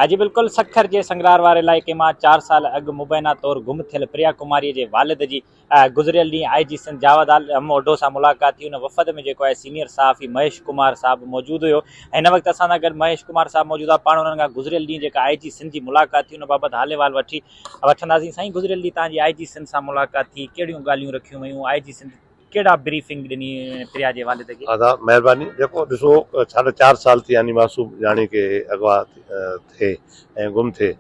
اڄ بلڪل سکر جي سنگرار واري علائقي مان چار سال اڳ مبينا طور گم ٿيل پريا ڪماري جي والد جي گذريل ڏينهن آء جي سنڌ جاويد عالم اوڍو سان ملاقات ٿي ان وفد ۾ جيڪو آء سينيئر صحافي مهيش ڪمار صاحب موجود هيو هن وقت اسان سان گڏ مهيش ڪمار صاحب موجود آ پاڻ انهن کان گذريل ڏينهن جيڪا آء جي سنڌ جي ملاقات ٿي ان بابت حال احوال وٺي وٺنداسين سائين گذريل ڏينهن توهان جي آء جي سنڌ سان ملاقات ٿي ڪهڙيون ڳالهيون رکيون ويون آء جي سنڌ ڪهڙا بريفنگ ڏني پريا جي والد کي. ادا مهرباني جيڪو ڏسو ساڍا چار سال ٿي يعني معصوم جاني کي اغوا ٿئي ۽ گم ٿئي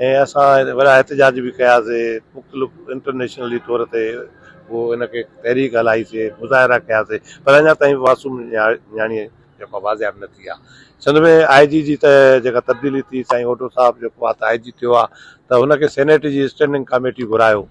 ۽ اسان وڏا احتجاج به ڪياسي مختلف انٽرنيشنلي طور تي هو ان کي تحريڪ هلائي سي مظاهرا ڪياسي پر اڃا تائين معصوم نياڻي جيڪو بازياب نه ٿي آ سنڌ ۾ آء جي جي ته جيڪا تبديلي ٿي سائين هوڊو صاحب جيڪو آ ته آء جي ٿيو آ ته هن کي سينيٽ جي اسٽينڊنگ ڪاميٽي گهرايو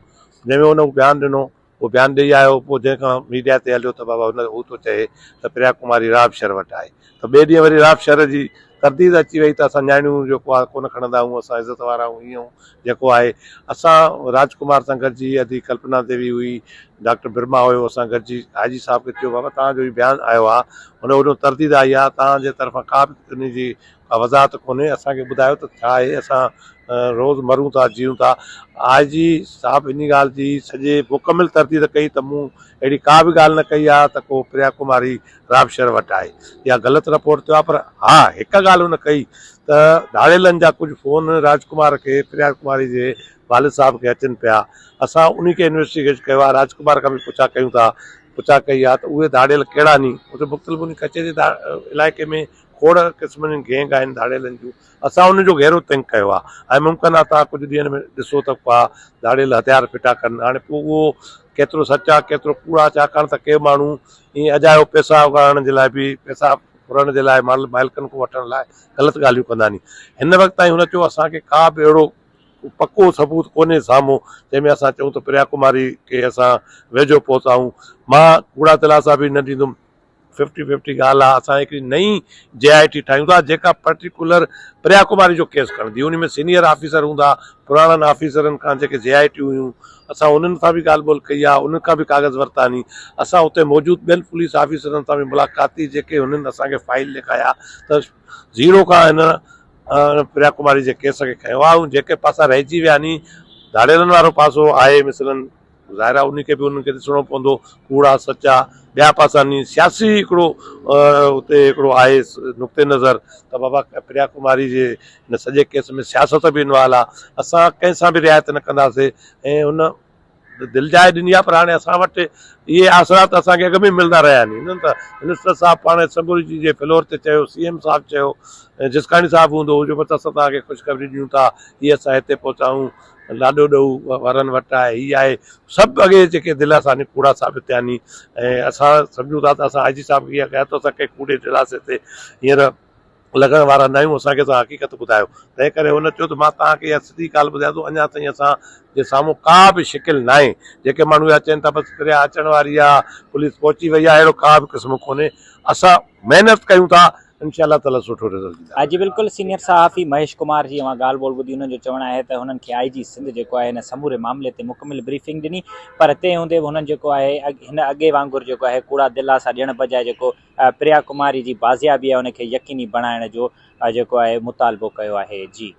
جنهن ۾ هن هو بيان ڏنو هو بيان ڏئي آيو، پوء جنهن کان ميڊيا تي هليو ته بابا هن هو ٿو چئي ته پريا ڪماري راب شر وٽ آهي ته ٻئي ڏينهن وري راب شر جي ترديد اچي وئي ته اسان نياڻيون جيڪو آهي ڪونه کڻندا آهيون، اسان عزت وارا آهيون هينئر هو جيڪو آهي اسان راج ڪمار سان گڏجي ادي ڪلپنا ديوي هئي، ڊاڪٽر برما هيو اسان گڏجي آء جي صاحب کي چيو بابا توهان جو هي بيان آيو آهي هن وڏو ترديد آئي آهي توهان جي طرفان ڪا به انهي جي وضاحت ڪونهي اسان کي ٻڌايو ته ڇا اهي اسان روز مرون ٿا جيون ٿا آء جي صاحب انهي ڳالهه جي سڄي مڪمل ترديد ڪئي ته مون اهڙي ڪا به ڳالهه نه ڪئي آهي ته ڪو پريا ڪماري رابشر وٽ آهي يا غلط رپورٽ ٿيو آهي پر ها هڪ ڳالهه هن ڪئي ته ڌاڙيلن جا ڪجهه فون راج ڪمار کي پريا ڪماري جي والد صاحب کي اچن پيا اسان انهي کي انويسٽيگيٽ ڪيو آهي راج ڪمار کان به پڇا ڪيون ٿا پڇا ڪئي آهي ته اهي ڌاڙيل ڪهڙا ني اتي مختلف انهي ڪچهري جي علائقي ۾ کوڙ قسمن جون گينگ آهن ڌاڙيلن جون اسان ان جو گهرو تنگ ڪيو آهي ۽ ممڪن آهي توهان ڪجهه ڏينهن ۾ ڏسو ته ڪا ڌاڙيل هٿيار ڦٽا ڪن هاڻي پوء اهو ڪيترو سچ آهي ڪيترو ڪوڙ آهي ڇاڪاڻ ته ڪي ماڻهو ائين اجايو پئسا اگهاڙڻ جي لاء به پئسا ڦرڻ جي لاء مال مالڪن کان وٺڻ لاء غلط ڳالهيون ڪندا ني هن وقت تائين هن چيو اسان کي ڪا به اهڙو پڪو ثبوت ڪونهي سامهون جنهن ۾ اسان چئون ته پريا ڪماري کي اسان ويجهو پهتايون مان ڪوڙا دلاسا به نه ڏيندم ففٽي ففٽي ڳالهه آهي اسان هڪڙي نئين جي آء ٽي ٺاهيون ٿا جيڪا پرٽيڪولر پريا ڪماري جو ڪيس کڻندي ان ۾ سينيئر آفيسر هوندا پراڻن آفيسرن کان جيڪي جي آء ٽيون هيون اسان انهن سان به ڳالهه ٻولهه ڪئي آهي انهن کان به ڪاغذ ورتاني اسان اتي موجود ٻين پوليس آفيسرن سان به ملاقات ٿي جيڪي هنن اسان کي فائل ڏيکايا ته زيرو کان هن پريا ڪماري جي ڪيس کي کنيو آهي ۽ جيڪي پاسا رهجي ويا ني ڌاڙيلن وارو پاسو آهي مثلاً ظاهر آهي انهي کي به انهن کي ڏسڻو پوندو ڪوڙا سچا ٻيا پاسا ني سياسي هڪڙو اتي هڪڙو آهي نقطي نظر ته بابا پريا ڪماري جي ان سڄي ڪيس ۾ سياست به انوال آهي اسان ڪنهن سان به رعايت نه ڪنداسي ۽ ان دل جاء ڏني آهي پر هاڻي اسان وٽ اهي آسرا ته اسان کي اڳ ۾ ملندا رهيا آهن هنن ته منسٽر صاحب پاڻ اسيمبلي جي فلور تي چيو سي ايم صاحب چيو جسڪاڻي صاحب هوندو هو جو بس اسان تهان کي خوشخبري ڏيون ٿا هي اسان هتي پهتايون لاڏو ڏئو وارن وٽ آهي هي آهي سڀ اڳي جيڪي دلاسا ني ڪوڙا ثابت ٿيا ني ۽ اسان سمجهون ٿا ته اسان آء جي صاحب کي ايئن ڪيا ته اسان ڪنهن ڪوڙي دلاسي تي هينئر لڳڻ وارا نه آهيون اسان کي توهان حقيقت ٻڌايو تنهن ڪري هن چيو ته مان توهان کي اها سڌي ڳالهه ٻڌايان ٿو اڃا تائين اسان جي سامهون ڪا به شڪل نه آهي جيڪي ماڻهو اها چين ٿا بس پريا اچڻ واري آهي پوليس پهچي وئي آهي اهڙو ڪا به قسم ڪونهي اسان محنت ڪيون ٿا انشاء الله تعالي سٺو رزلٽ ڏيندا. ها جي بلڪل سينئر صحافي مهيش ڪمار جي اوهان ڳالهه ٻولهه ٻڌي انهن جو چوڻ آهي ته هنن کي آئي جي سنڌ جيڪو آهي هن سموري معاملي تي مڪمل بريفنگ ڏني پر تنهن هوندي به هنن جيڪو آهي هن اڳي وانگر جيڪو آهي ڪوڙا دلاسا ڏيڻ بجاء جيڪو پريا ڪماري جي بازيابي آهي ان کي يقيني بڻائڻ جو جيڪو آهي مطالبو ڪيو آهي جي